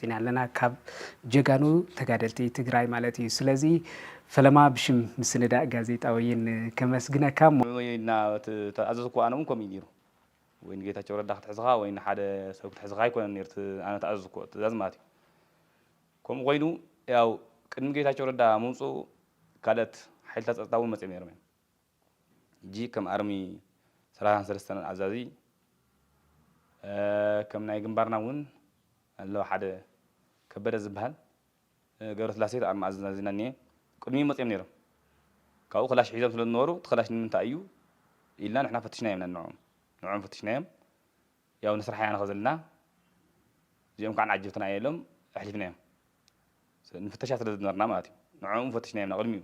ኢና ኣለና ካብ ጀጋኑ ተጋደልቲ ትግራይ ማለት እዩ ስለዚ ፈለማ ብሽም ምስንዳእ ጋዜጣ ወይን ከመስግነካ እሞ። ወይና ተኣዘዝኩ ኣነ እውን ከምኡ እዩ ነይሩ ወይ ንጌታቸው ረዳ ክትሕዝኻ ወይ ንሓደ ሰብ ክትሕዝኻ ኣይኮነን ነይሩ እቲ ኣነ ተኣዘዝኩዎ ትእዛዝ ማለት እዩ ከምኡ ኮይኑ ያው ቅድሚ ጌታቸው ረዳ ምምፅኡ ካልኦት ሓይልታት ፀጥታ እውን መፂኦም ነይሮም እዮም ሕጂ ከም ኣርሚ ሰላሳን ሰለስተን ኣዛዚ ከም ናይ ግንባርና ውን ኣሎ ሓደ ከበደ ዝብሃል ገብረስላሴ እቲ ኣርሚ ኣዛዚና እኒኤ ቅድሚኡ መጺኦም ነይሮም ካብኡ ከላሽ ሒዞም ስለ ዝነበሩ እቲ ከላሽ ንምንታይ እዩ ኢልና ንሕና ፈትሽናዮም ኢና ንዕኦም ንዕኦም ፈትሽናዮም ያው ንስራሕ ኢና ንኸዘልና እዚኦም ከዓ ንዓጀብትና እየ ኢሎም ኣሕሊፍናዮም ንፍተሻ ስለ ዝነበርና ማለት እዩ ንዕኦም ፈትሽናዮም ኢና ቅድሚኡ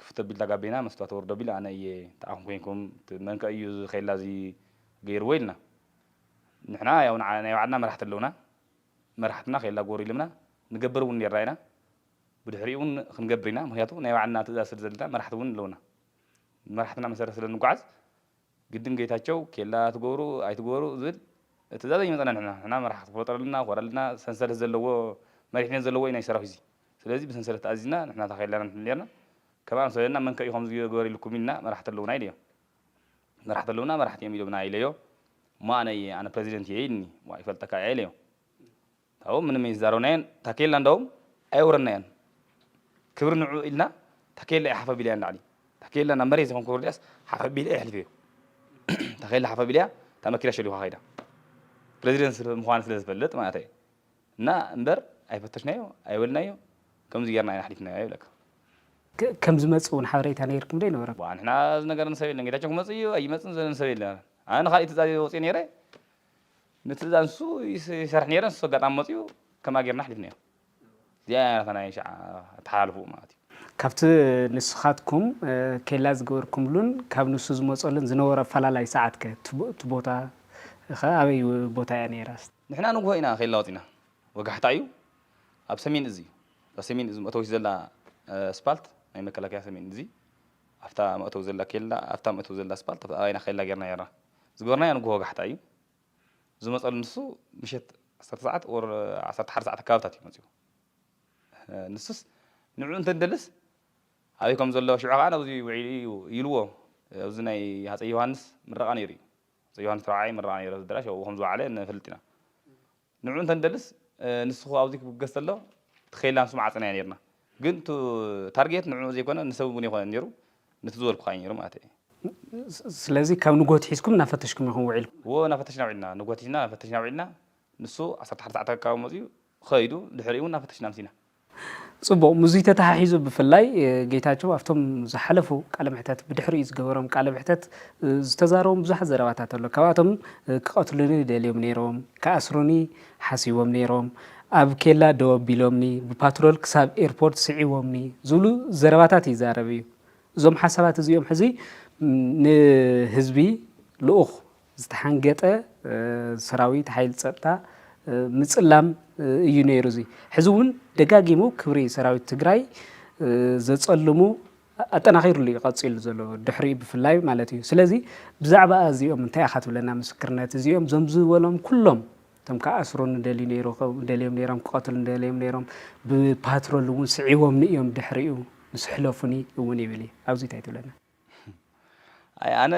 ክፍት ኣቢልታ ጋቤና መስትዋት ወርድ ኣቢላ ኣነ እየ እንተኣኹም ኮይንኩም መንከ እዩ እዚ ኼላ እዚ ገይርዎ ኢልና ንሕና ያው ናይ ባዕልና መራሕቲ ኣለውና መራሕትና ኼላ ጎር ኢሎምና ንገብር እውን ኔርና ኢና ብድሕሪኡ እውን ክንገብር ኢና ምኽንያቱ ናይ ባዕልና ትእዛዝ ስለ ዘለና መራሕቲ እውን ኣለውና ብመራሕትና መሰረት ስለ ንጓዓዝ ግድን ጌታቸው ኬላ ትገብሩ ኣይትግበሩ ዝብል ትእዛዝ ኣይመፀና ንሕና ንሕና መራሒ ክትፈጥረልና ኮረልና ሰንሰለት ዘለዎ መሪሕነት ዘለዎ ኢና ሰራዊት እዚ ስለዚ ብሰንሰለት ተኣዚዝና ንሕና እታ ኬላ ኢና ንሕሉ ነርና ከም ኣምሰለና መንከ እዩ ከምዚ ግበር ኢልኩም ኢልና መራሕቲ ኣለውና ኢለዮ መራሕቲ ኣለውና መራሕቲ እዮም ኢሎምና ኢለዮ እሞ ኣነ እየ ኣነ ፕረዚደንት እየ ኢልኒ ዋ ይፈልጠካ እየ ኢለዮ ኣብኡ ምንም ኣይዛረብናዮን ታኬላ እንዳውም ኣየውረድናዮን ክብሪ ንዕኡ ኢልና ታኬላ እየ ሓፍ ኣቢለያ ንላዕሊ ታኬላ ናብ መሬት ዘይኮንኩ ወሪደያስ ሓፍ ኣቢለ የሕልፈዮ ታኬላ ሓፍ ኣቢለያ እታ መኪና ሸሊኳ ከይዳ ፕረዚደንት ምዃኑ ስለ ዝፈልጥ ማለት እየ እና እምበር ኣይፈተሽናዮ ኣይበልናዮ ከምዚ ጌርና ኢና ኣሕሊፍናዮ ይብለካ ከም ዝመጽእ እውን ሓበሬታ ነይርኩም ዶ ኣይነበረኩም? ንሕና ዝነገረኒ ሰብ የለን ጌታቸው ክመጽእ እዩ ኣይመጽን ዝብለኒ ሰብ የለን ኣነ ንካሊእ ትእዛዝ ወጺኦ ነይረ ነቲ እዛ ንሱ ይሰርሕ ነይረ ንሱ ኣጋጣሚ መጺኡ ከምኣ ጌርና ኣሕሊፍናዮ እዚኣ እያ ናታ ናይ ሽዓ ኣተሓላልፍኡ ማለት እዩ ካብቲ ንስኻትኩም ኬላ ዝገበርኩምሉን ካብ ንሱ ዝመጸሉን ዝነበሮ ኣፈላላይ ሰዓት ከ እቲ ቦታ ከ ኣበይ ቦታ እያ ነይራ? ንሕና ንግሆ ኢና ኬላ ወጺእና ወጋሕታ እዩ ኣብ ሰሜን እዝ እዩ እዛ ሰሜን እዝ መእተዊት ዘላ ኣስፓልት ናይ መከላከያ ሰሜን እዝ ኣብታ መእተዊ ዘላ ኬላ ኣብታ መእተዊ ዘላ ኣስፓልት ኣብኣ ኢና ኬላ ጌርና ነይርና ዝገበርናዮ ንግሆ ወጋሕታ እዩ ዝመጸሉ ንሱ ምሸት ዓሰርተ ሰዓት or ዓሰርተ ሓደ ሰዓት ኣከባብታት እዩ መጺኡ ንሱስ ንዕኡ እንተደልስ ኣበይ ከም ዘሎ ሽዑ ከኣ ኣብዚ ውዒሉ እዩ ኢልዎ ኣብዚ ናይ ሃጸይ ዮሃንስ ምረቓ ነይሩ እዩ ሃፀይ ዮሃንስ ራብዓይ ምረቓ ነይሩ ኣደራሽ ኣብኡ ከም ዝወዓለ ንፈልጥ ኢና ንዑ እንተንደልስ ንስኹ ኣብዙይ ክብገስ ተሎ እቲ ከይላ ንሱ መዓጽና እያ ነርና ግን እቱ ታርጌት ንዑ ዘይኮነ ንሰብ እውን ኣይኮነን ነሩ ንቲ ዝበልኩኻ እዩ ነሩ ማለት እየ። ስለዚ ካብ ንጎት ሒዝኩም እናፈተሽኩም ኢኹም ውዒልኩም? እዎ እናፈተሽና ውዒልና ንጎት ሒዝና ፈተሽና ውዒልና ንሱ ዓሰርተ ሓደ ሰዓት ኣከባቢ መጺኡ ኸይዱ ድሕሪኡ እውን እናፈተሽና ኣምሲና። ጽቡቕ ምስዙይ ተተሓሒዙ ብፍላይ ጌታቸው ኣብቶም ዝሓለፉ ቃለ መሕተት ብድሕሪኡ ዝገበሮም ቃለ መሕተት ዝተዛረቦም ብዙሓት ዘረባታት ኣሎ ካብኣቶም ክቐትሉኒ ደልዮም ነይሮም ክኣስሩኒ ሓሲቦም ነይሮም ኣብ ኬላ ደው ኣቢሎምኒ ብፓትሮል ክሳብ ኤርፖርት ስዒቦምኒ ዝብሉ ዘረባታት ይዛረብ እዩ እዞም ሓሳባት እዚኦም ሕዚ ንህዝቢ ልኡኽ ዝተሓንገጠ ሰራዊት ሓይሊ ፀጥታ ምፅላም እዩ ነይሩ። እዚ ሕዚ እውን ደጋጊሙ ክብሪ ሰራዊት ትግራይ ዘፀልሙ ኣጠናኺሩሉ እዩ ቀፂሉ ዘሎ ድሕሪ ብፍላይ ማለት እዩ ስለዚ ብዛዕባ እዚኦም እንታይ ኢኻ ትብለና ምስክርነት እዚኦም ዞም ዝበሎም ኩሎም እቶም ክኣስሩ ንደልዩ ነይሩ ደልዮም ነይሮም ክቐትሉ ንደልዮም ነይሮም ብፓትሮል እውን ስዒቦምኒ እዮም ድሕሪኡ ምስ ሕለፉኒ እውን ይብል እዩ ኣብዚ እንታይ ትብለና ኣይ ኣነ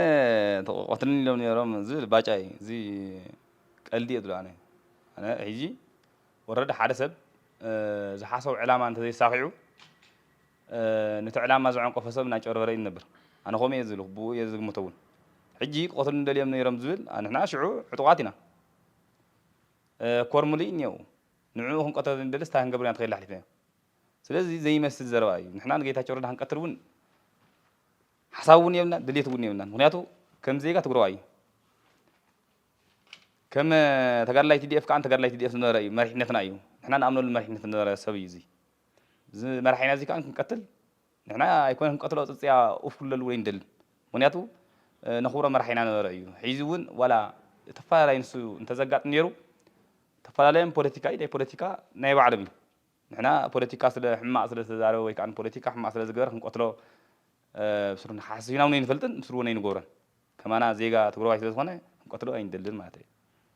ተቆቆትልኒ ኢሎም ነሮም ዝብል ባጫ እዩ እዚ ቀልዲ እየ ዝብሎ ኣነ ኣነ ሕጂ ወረደ ሓደ ሰብ ዝሓሰቡ ዕላማ እንተዘይሳኺዑ ነቲ ዕላማ ዘዐንቀፎ ሰብ እናጨርበረ እዩ ዝነብር ኣነ ከምኡ እየ ዝብልኩ ብኡ እየ ዝግምቶ እውን ሕጂ ክቐትሉ ደልዮም ነይሮም ዝብል ንሕና ሽዑ ዕጡቓት ኢና ኮር ሙሉእ እኒአው ንዕኡ ክንቀተሉ ንደልስ እንታይ ክንገብር ኢና ተኸይልና ኣሕሊፍናዮ ስለዚ ዘይመስል ዘረባ እዩ። ንሕና ንጌታቸው ረዳ ክንቀትል እውን ሓሳብ እውን የብልናን ድሌት እውን የብልናን። ምክንያቱ ከም ዜጋ ትግረዋይ እዩ። ከም ተጋድላይ ቲዲኤፍ ከዓ ተጋድላይ ቲዲኤፍ ዝነበረ እዩ መሪሕነትና እዩ ንሕና ንኣምነሉ መሪሕነት ዝነበረ ሰብ እዩ እዚ እዚ መራሒና እዚ ከዓ ክንቀትል ንሕና ኣይኮነ ክንቀትሎ ፅፅያ ኡፍ ክብለሉ ወይ ንደልን ምክንያቱ ነኽብሮ መራሒና ነበረ እዩ ሕዚ እውን ዋላ ተፈላለይ ንሱ እንተዘጋጥም ነይሩ ተፈላለዮም ፖለቲካ እዩ ናይ ፖለቲካ ናይ ባዕሎም እዩ ንሕና ፖለቲካ ስለ ሕማቅ ስለ ዝተዛረበ ወይ ከኣ ንፖለቲካ ሕማቅ ስለ ዝገበረ ክንቀትሎ ብስሩ ሓሲብና ውን ኣይንፈልጥን ብስሩ ውን ኣይንገብሮን ከማና ዜጋ ትግረዋይ ስለ ዝኮነ ክንቀትሎ ኣይንደልን ማለተይ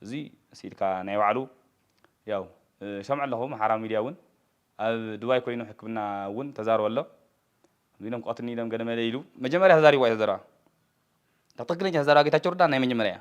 እዚ ስኢልካ ናይ ባዕሉ ያው ይሰምዖ ኣለኩ ኣምሓራ ሚድያ ውን ኣብ ዱባይ ኮይኑ ሕክምና ውን ተዛርቦ ኣሎ ከምዚ ኢሎም ክቀትልኒ ኢሎም ገለ መለ ኢሉ መጀመርያ ተዛሪብዋ እያ እዛ ዘረባ እታ ትክክለኛ ዘረባ ጌታቸው ረዳ ናይ መጀመርያ እያ።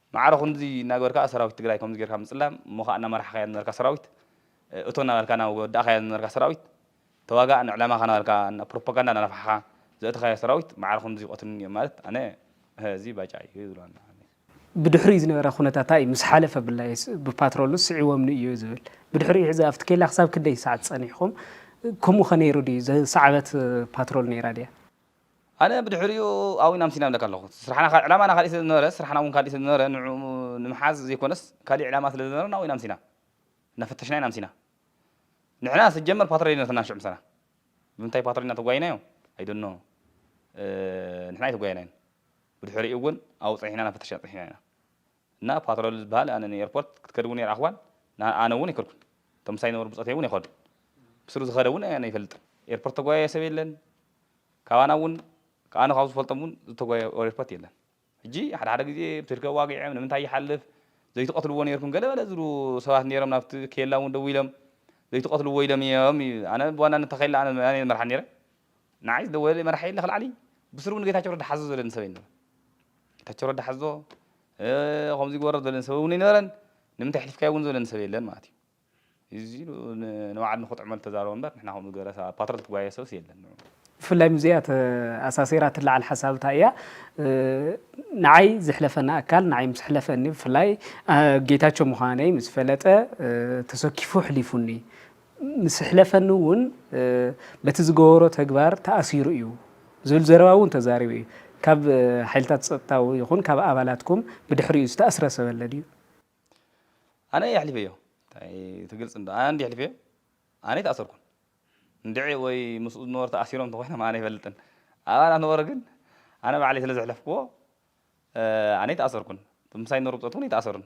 ማዕረ ክንድዚ እናገበርካ ከኣ ሰራዊት ትግራይ ከምዚ ጌርካ ምጽላም እሞ ከኣ እናመራሕካያ ዝነበርካ ሰራዊት እቶ እናበልካ እናወዳእካያ ዝነበርካ ሰራዊት ተዋጋእ ንዕላማኻ እናበልካ እና ፕሮፓጋንዳ እናነፋሕኻ ዘእተኻዮ ሰራዊት ማዕረ ክንድዚ ይቐትሉኒ እዮም ማለት ኣነ እዚ ባጫ እዩ ዝብሎ ኣሎ ብድሕሪኡ ዝነበረ ኩነታታ እዩ ምስ ሓለፈ ብላይ ብፓትሮልስ ስዒቦምኒ እዩ ዝብል ብድሕሪኡ ሕዚ ኣብቲ ኬላ ክሳብ ክንደይ ሰዓት ጸኒሕኩም ከምኡ ከ ነይሩ ድዩ ዝሰዓበት ፓትሮል ነይራ ድያ ኣነ ብድሕሪኡ ኣውይን ኣምሲን እብለካ ኣለኹ። ስራሕና ዕላማና ካሊእ ስለ ዝነበረ ስራሕና እውን ካሊእ ስለ ዝነበረ ንዕኡ ንምሓዝ ዘይኮነስ ካሊእ ዕላማ ስለ ዝነበረና ኣውይን ኣምሲና እናፈተሽና ኢና ኣምሲና። ንሕና ስጀመር ፓትሮል ኣይነበርናን ሽዑ ምሳና። ብምንታይ ፓትሮል ኢና ተጓይናዮ ኣይ ዶንት ኖው ንሕና ኣይተጓየናዮን። ብድሕሪኡ እውን ኣብኡ ፀኒሕና እናፈተሽና ፀኒሕና ኢና። እና ፓትሮል ዝባሃል ኣነ ን ኤርፖርት ክትከድ ውን ኣይረኣኽዋን ን ኣነ ውን ኣይከድኩን እቶም ምሳይ ዝነበሩ ብጾተይ ውን ኣይኸዱን ብስሩ ዝኸደ ውን ኣነ ኣይፈልጥን ኤርፖርት ዝተጓየየ ሰብ የለን ካባና ውን ኣነ ካብ ዝፈልጦም ውን ዝተጓየየ ኣብ ኤርፖርት የለን ሕጂ ሓደ ሓደ ግዜ ብ ስልኪ ኣዋጊዕም ንምንታይ ይሓልፍ ዘይትቀትልዎ ኔርኩም ገለ በለ ዝብሉ ሰባት ኔሮም ናብቲ ኬላ ውን ደዊሎም ዘይትቀትልዎ ኢሎም ኢዮም ኢዩ ኣነ ብዋናነት እታ ኬላ ኣነ ኣነ ኢየ ዝመርሓ ኔረ ንዓይ ዝደወለለይ መራሒ የለ ክልዓለይ ብስሩ ን ጌታቸው ረዳ ሓዙ ዝብለኒ ሰብ ኣይነበረን ጌታቸው ረዳ ሓዞ ከምዚ ይግበሮ ዝበለኒ ሰብ እውን ኣይነበረን ንምንታይ ኣሕሊፍካዮ እውን ዝበለኒ ሰብ የለን ማለት እዩ እዚ ኢሉ ንባዕሉ ንክጥዕመሉ ተዛረበ እምበር ንሕና ከምኡ ዝገበረ ሰብ ፓትሮል ትጓየ ሰብስ የለን ብፍላይ ምስዚኣ ተኣሳሲራ ትለዓል ሓሳብ እንታይ እያ ንዓይ ዝሕለፈና ኣካል ንዓይ ምስ ሕለፈኒ ብፍላይ ጌታቸው ምዃነይ ምስ ፈለጠ ተሰኪፉ ሕሊፉኒ ምስ ኣሕለፈኒ እውን በቲ ዝገበሮ ተግባር ተኣሲሩ እዩ ዝብል ዘረባ እውን ተዛሪቡ እዩ። ካብ ሓይልታት ፀጥታ ይኹን ካብ ኣባላትኩም ብድሕሪኡ ዝተኣስረ ሰብ ኣለ ድዩ? ኣነ የሕሊፈዮ ታይ ትግልፅ እንዶ ኣነ እንድየ ኣሕሊፈዮ ኣነ ኣይተኣሰርኩን እንድዒ ወይ ምስኡ ዝነበሩ ተኣሲሮም እንተኾይኖም ኣነ ኣይፈልጥን ኣባላት ነበሩ ግን ኣነ ባዕለይ ስለዘሕለፍክዎ ኣነ ኣይተኣሰርኩን ምሳይ ዝነበሩ ብፆት እውን ኣይተኣሰሩን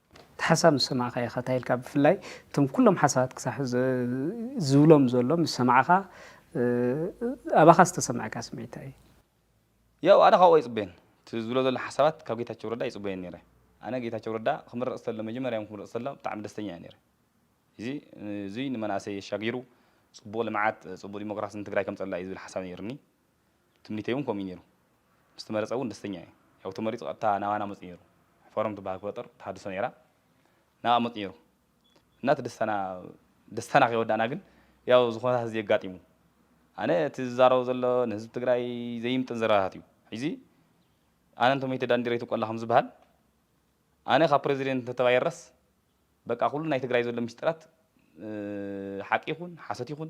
እቲ ሓሳብ ምስ ሰማዕካ ኢኻ ታይ ኢልካ ብፍላይ እቶም ኩሎም ሓሳባት ክሳብ ሕዚ ዝብሎም ዘሎ ምስ ሰማዕኻ ኣባኻ ዝተሰመዐካ ስምዒት ታይ እዩ? ያው ኣነ ካብኡ ኣይጽበዮን እቲ ዝብሎ ዘሎ ሓሳባት ካብ ጌታቸው ረዳ ኣይጽበዮን ኔረ ኣነ ጌታቸው ረዳ ክምረጽ ተሎ መጀመርያ ክምረጽ ተሎ ብጣዕሚ ደስተኛ እየ ኔረ ኢዚ እዙይ ንመናእሰይ ኣሻጊሩ ጽቡቅ ልምዓት ጽቡቅ ዲሞክራሲ ንትግራይ ከምጸላ እዩ ዝብል ሓሳብ ኔሩኒ ትምኒተይ እውን ከምኡ እዩ ነይሩ። ምስ ተመረጸ እውን ደስተኛ እየ። ያው ተመሪጹ ቀጥታ ናባና መጺኡ ነይሩ። ፎረም ትበሃል ክፈጥር ተሃድሶ ነይራ። ናብኣ መጺኡ ነይሩ እና እቲ ደስታና ደስታና ከይወዳእና ግን ያው እዚ ኩነታት እዚ ኣጋጢሙ። ኣነ እቲ ዝዛረቦ ዘሎ ንህዝቢ ትግራይ ዘይምጥን ዘረባታት እዩ። ሕዚ ኣነ እንተሞይተ ዳንዴር ኣይትብቆላ ከም ዝበሃል ኣነ ካብ ፕረዚደንት እንተተባይረስ በቃ ኩሉ ናይ ትግራይ ዘሎ ምስጢራት ሓቂ ይኹን ሓሶት ይኹን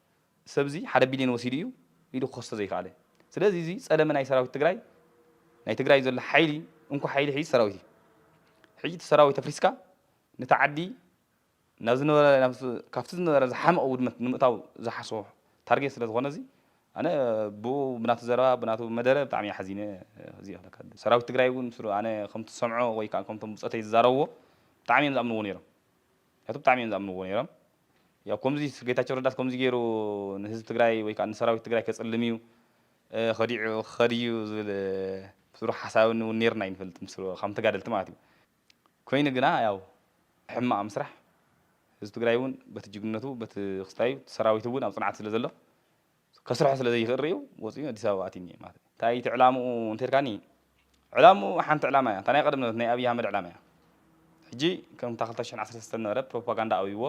ሰብዚ ሓደ ቢልዮን ወሲዱ እዩ ኢሉ ክኸሶ ዘይከኣለ ስለዚ እዚ ፀለመ ናይ ሰራዊት ትግራይ ናይ ትግራይ ዘሎ ሓይሊ እንኮ ሓይሊ ሕጂ ሰራዊት እዩ ሕጂ እቲ ሰራዊት ኣፍሪስካ ነታ ዓዲ ናብ ዝነበረ ካብቲ ዝነበረ ዝሓመቐ ውድመት ንምእታው ዝሓስቦ ታርጌት ስለ ዝኾነ እዚ ኣነ ብኡ ብናቱ ዘረባ ብናቱ መደረ ብጣዕሚ እየ ሓዚነ እዚ ክብለካ ዝደሊ ሰራዊት ትግራይ እውን ምስሩ ኣነ ከምቲ ዝሰምዖ ወይ ከዓ ከምቶም ብፆተይ ዝዛረብዎ ብጣዕሚ እዮም ዝኣምንዎ ነይሮም ምክንያቱ ብጣዕሚ እዮም ዝኣምንዎ ነይሮም ያው ኮምዚ ጌታቸው ረዳስ ኮምዚ ጌሩ ንህዝቢ ትግራይ ወይ ከዓ ንሰራዊት ትግራይ ከፅልም እዩ ከዲዑ ክኸድ እዩ ዝብል ስሩሕ ሓሳብ እውን ኔርና ኣይንፈልጥ ምስ ከም ተጋደልቲ ማለት እዩ ኮይኑ ግና ያው ሕማቅ ምስራሕ ህዝቢ ትግራይ እውን በቲ ጅግንነቱ በቲ ክስታዩ ሰራዊት እውን ኣብ ፅንዓት ስለ ዘሎ ከስርሖ ስለ ዘይክእል ርእዩ ወጺኡ ኣዲስ ኣበባ ኣትዩ እኒኤ ማለት እዩ። እንታይ እቲ ዕላምኡ እንተልካኒ ዕላምኡ ሓንቲ ዕላማ እያ እታ ናይ ቀደም ነበረት ናይ ኣብይ ኣህመድ ዕላማ እያ። ሕጂ ከም እታ ክልተ ሽሕን ዓሰርተ ሰለስተን ዝነበረ ፕሮፓጋንዳ ኣብይዎ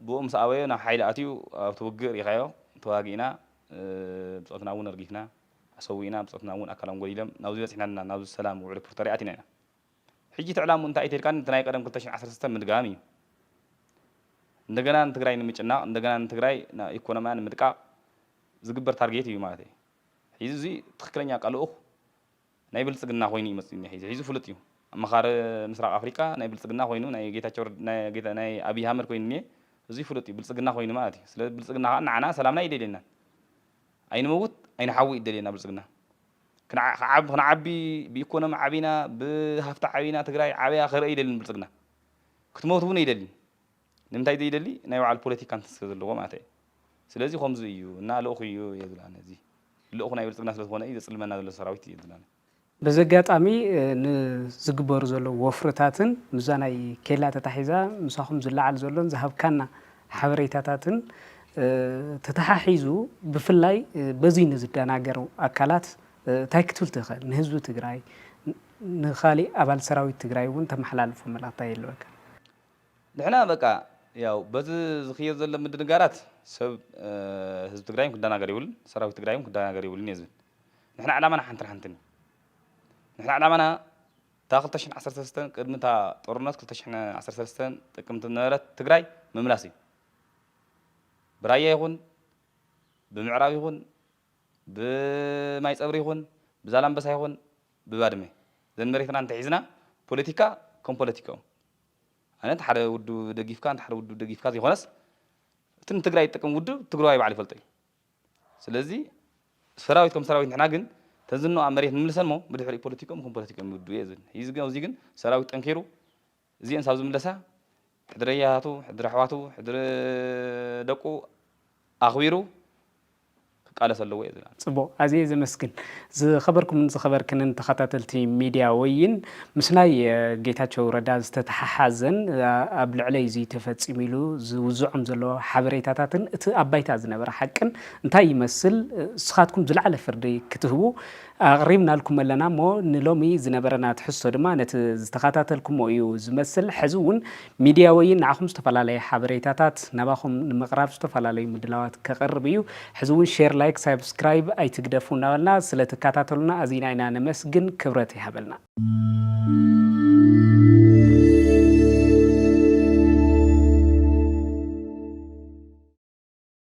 ብኡ ምስ ኣበዮ ናብ ሓይሊ ኣትዩ ኣብቲ ውግእ ርኢኻዮ ተዋጊእና ብጾትና እውን ኣርጊፍና ኣሰዊእና ብጾትና እውን ኣካሎም ጎዲሎም ናብዚ በጺሕና ኣለና ናብዚ ሰላም ውዕሊ ፕሪቶርያ ኣቲና ኢና። ሕጂ እቲ ዕላምኡ እንታይ እዩ ተልካ ነቲ ናይ ቀደም ክልተ ሽሕን ዓሰርተ ሰለስተን ምድጋም እዩ እንደገና ንትግራይ ንምጭናቅ እንደገና ንትግራይ ናብ ኢኮኖምያ ንምድቃቅ ዝግበር ታርጌት እዩ ማለት እዩ ሒዚ እዚ ትክክለኛ ቀልኡክ ናይ ብልጽግና ኮይኑ እዩ መጽኡ ሒዚ ሒዚ ፍሉጥ እዩ ኣማኻሪ ምስራቅ ኣፍሪቃ ናይ ብልጽግና ኮይኑ ናይ ጌታቸው ናይ ኣብይ ኣህመድ ኮይኑ እኒኤ እዚ ፍሉጥ እዩ ብልጽግና ኮይኑ ማለት እዩ ስለ ብልጽግና ከዓ ንዓና ሰላምና ይደልየናን ኣይንመውት ኣይንሓዊ ይደልየና ብልጽግና ክንዓቢ ብኢኮኖሚ ዓቢና ብሃፍቲ ዓቢና ትግራይ ዓብያ ክረኢ ይደሊ ንብልፅግና ክትመውት እውን ኣይደሊን ንምንታይ ዘይደሊ ናይ ባዕሉ ፖለቲካ እንትን ስለ ዘለዎ ማለት እዩ ስለዚ ከምዚ እዩ እና ልእኹ እዩ የዝላነ እዚ ልእኹ ናይ ብልፅግና ስለ ዝኾነ እዩ ዘፅልመና ዘሎ ሰራዊት እዩ የዝላነ በዚ ኣጋጣሚ ንዝግበሩ ዘለዉ ወፍርታትን ምስዛ ናይ ኬላ ተታሒዛ ምሳኹም ዝለዓል ዘሎን ዝሃብካና ሓበሬታታትን ተተሓሒዙ ብፍላይ በዙይ ንዝደናገሩ ኣካላት ታይ ክትብል ትኽእል? ንህዝቢ ትግራይ ንኻሊእ ኣባል ሰራዊት ትግራይ እውን ተመሓላልፎ መልእኽቲ ታይ ይህልወካ? ንሕና በቃ ያው በዚ ዝኽየድ ዘሎ ምድንጋራት ሰብ ህዝቢ ትግራይ እውን ክደናገር የብሉን፣ ሰራዊት ትግራይ እውን ክደናገር የብሉን እየ ዝብል። ንሕና ዕላማና ሓንትን ሓንትን እዩ። ንሕና ዕላማና እታ ክልተ ሽሕን ዓሰርተ ሰለስተን ቅድሚ እታ ጦርነት ክልተ ሽሕን ዓሰርተ ሰለስተን ጥቅምቲ ዝነበረት ትግራይ ምምላስ እዩ። ብራያ ይኹን ብምዕራብ ይኹን ብማይፀብሪ ይኹን ብዛላምበሳ ይኹን ብባድመ ዘን መሬትና እንተሒዝና ፖለቲካ ከም ፖለቲካኡ ኣይነት ሓደ ውድብ ደጊፍካ ንሓደ ውድብ ደጊፍካ ዘይኮነስ እቲ ንትግራይ ዝጠቅም ውድብ ትግራዋይ ባዕሉ ይፈልጦ እዩ። ስለዚ ሰራዊት ከም ሰራዊት ንሕና ግን ተዝኖ ኣብ መሬት ንምልሰን እሞ ብድሕሪኡ ፖለቲክኦም ከም ፖለቲክኦም ይውድኡ እየ ዝብል እዚ ግን ኣብዚ ግን ሰራዊት ጠንኪሩ እዚኤን ሳብ ዝምለሳ ሕድሪ ኣያታቱ ሕድሪ ኣሕዋቱ ሕድሪ ደቁ ኣኽቢሩ ክቃለስ ኣለዎ እየ ዝብል ጽቡቕ ኣዝየ ዘመስግን። ዝኸበርኩምን ዝኸበርክንን ተኸታተልቲ ሚድያ ወይን፣ ምስ ናይ ጌታቸው ረዳ ዝተተሓሓዘን ኣብ ልዕለይ እዙይ ተፈፂሙ ኢሉ ዝውዝዖም ዘሎ ሓበሬታታትን እቲ ኣብ ባይታ ዝነበረ ሓቅን እንታይ ይመስል ንስኻትኩም ዝለዓለ ፍርዲ ክትህቡ ኣቕሪብናልኩም ኣለና እሞ ንሎሚ ዝነበረና ትሕዝቶ ድማ ነቲ ዝተኸታተልኩሞ እዩ ዝመስል። ሕዚ እውን ሚድያ ወይን ንዓኹም ዝተፈላለየ ሓበሬታታት ናባኹም ንምቕራብ ዝተፈላለዩ ምድላዋት ከቕርብ እዩ። ሕዚ እውን ሼር፣ ላይክ፣ ሳብስክራይብ ኣይትግደፉ እናበልና ስለትከታተሉና ኣዚና ኢና ነመስግን። ክብረት ይሃበልና።